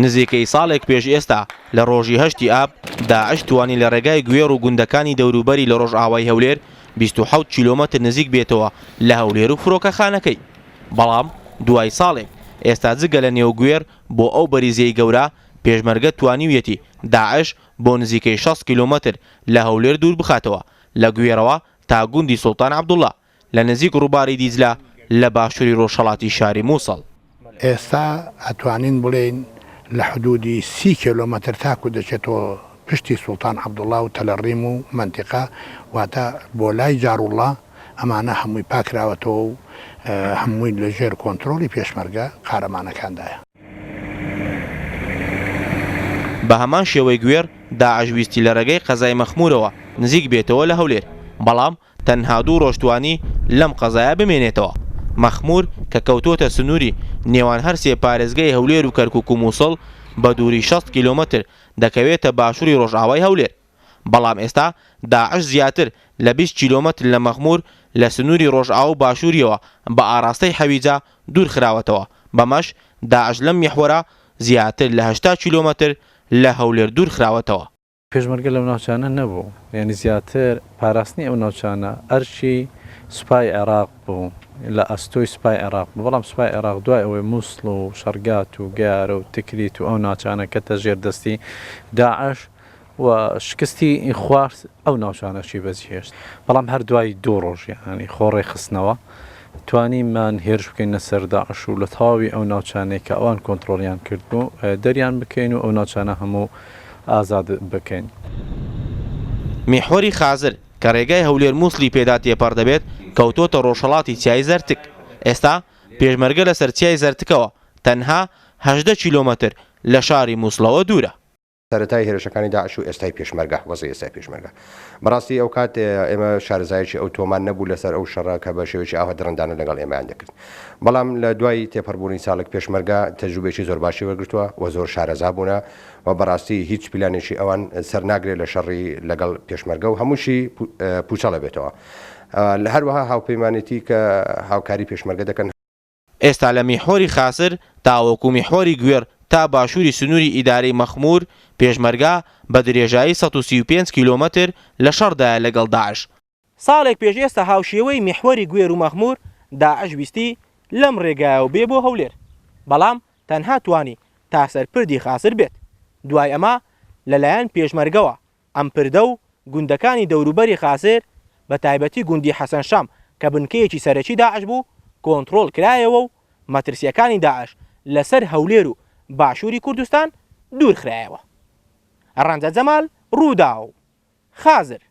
نزیکەی ساڵێک پێش ئێستا لە ڕۆژی هەشتی ئاب داعش توانی لە ڕێگای گوێڕ و گوندەکانی دەوروبەری لە ڕۆژئاوای هەولێر بیست و حەوت کیلۆمەتر نزیک بێتەوە لە هەولێر و فرۆکەخانەکەی بەڵام دوای ساڵێک ئێستا جگە لە نێو گوێر بۆ ئەو بەریزیەی گەورە پێشمەرگە توانیویەتی داعش بۆ نزیکەی شەست کیلۆمەتر لە هەولێر دوور بخاتەوە لە گوێرەوە تا گوندی سوڵتان عەبدوڵا لە نزیک ڕووباری دیجلە لە باشووری ڕۆژهەڵاتی شاری مووسڵ. ئێستا ئەتوانین بڵێین لە حدوودی سی کێلۆمەتر تاکوو دەچێتەوە پشتی سوڵتان عەبدوڵڵا و تەلەڕیم و مەنتیقە، واتە بۆ لای جاروڵڵا، ئەمانە هەمووی پاکراوەتەوە و هەمووی لە ژێر کۆنترۆڵی پێشمەرگە قارەمانەکاندایە. بە هەمان شێوەی گوێڕ، داعش ویستی لە رێگەی قەزای مەخموورەوە نزیک بێتەوە لە هەولێر، بەڵام تەنها دوو رۆژ توانی لەم قەزایە بمێنێتەوە. مەخمور کە کەوتووەتە سنووری نێوان هەر سێ پارێزگای هەولێر و کەرکوک و موسڵ، بە دووری شەست کیلۆمەتر دەکەوێتە باشووری رۆژئاوای هەولێر. بەڵام ئێستا داعش زیاتر لە بیست کیلۆمەتر لە مەخمور لە سنووری رۆژئاوا و باشوورییەوە بە ئاراستەی حەویجە دوور خراوەتەوە، بەمەش داعش لەم میحوەرە زیاتر لە هەشتا کیلۆمەتر لە هەولێر دوور خراوەتەوە. پێشمەرگە لەو ناوچانە نەبوو، یانی زیاتر پاراستنی ئەو ناوچانە ئەرکی سوپای عێراق بوو، لە ئەستۆی سوپای عێراق بوو، بەڵام سوپای عێراق دوای ئەوەی موسڵ و شەرگات و گەیارە و تکریت و ئەو ناوچانە کەتە ژێر دەستی داعش و شکستی خوارد ئەو ناوچانەشی بەجیهێشت، بەڵام هەر دوای دوو ڕۆژ یانی خۆ ڕێکخستنەوە. توانیمان هێرش بکەینە سەر داعش و لە تەواوی ئەو ناوچانەی کە ئەوان کۆنتڕۆڵیان کردبوو دەریان بکەین و ئەو ناوچانە هەموو ئازاد بکەین. میحوەری خازر کە رێگای هەولێر موسڵی پێدا تێپەڕ دەبێت کەوتۆتە رۆژهەڵاتی چیای زەرتک، ئێستا پێشمەرگە لەسەر چیای زەرتکەوە تەنها هەژدە کیلۆمەتر لە شاری موسڵەوە دوورە. سەرەتای هێرشەکانی داعش و ئێستای پێشمەرگە، وەزعی ئێستای پێشمەرگە. بەڕاستی ئەوکات ئێمە شارەزایەکی ئەوتۆمان نەبوو لەسەر ئەو شەڕە کە بە شێوەیەکی ئاوا دڕندانە لەگەڵ ئێمەیان دەکرد. بەڵام لە دوای تێپەڕبوونی ساڵێک پێشمەرگە تەجروبەیەکی زۆر باشی وەرگرتووە و زۆر شارەزا بوونە و بەڕاستی هیچ پیلانێکی ئەوان سەر ناگرێت لە شەڕی لەگەڵ پێشمەرگە و هەمووشی پووچەڵ ئەبێتەوە. هەروەها هاوپەیمانێتی کە هاوکاری پێشمەرگە دەکەن، ئێستا لە میحوەری خاسر تاوەکو میحوەری گوێڕ تا باشووری سنووری ئیدارەی مەخموور، پێشمەرگە بە درێژایی سەد و سی و پێنج کیلۆمەتر لە شەڕدایە لەگەڵ داعش. ساڵێک پێش ئێستا هاوشێوەی میحوەری گوێر و مەخموور، داعش ویستی لەم رێگایەوە بێ بۆ هەولێر، بەڵام تەنها توانی تا سەر پردی خاسر بێت. دوای ئەمە لەلایەن پێشمەرگەوە ئەم پردە و گوندەکانی دەوروبەری قاسێر بە تایبەتی گوندی حەسەن شام کە بنکەیەکی سەرەکی داعش بوو کۆنتڕۆڵ کرایەوە و مەترسییەکانی داعش لە سەر هەولێر و باشووری کوردستان دوور خرایەوە. ڕەنجە جەمال، رووداو، خازر.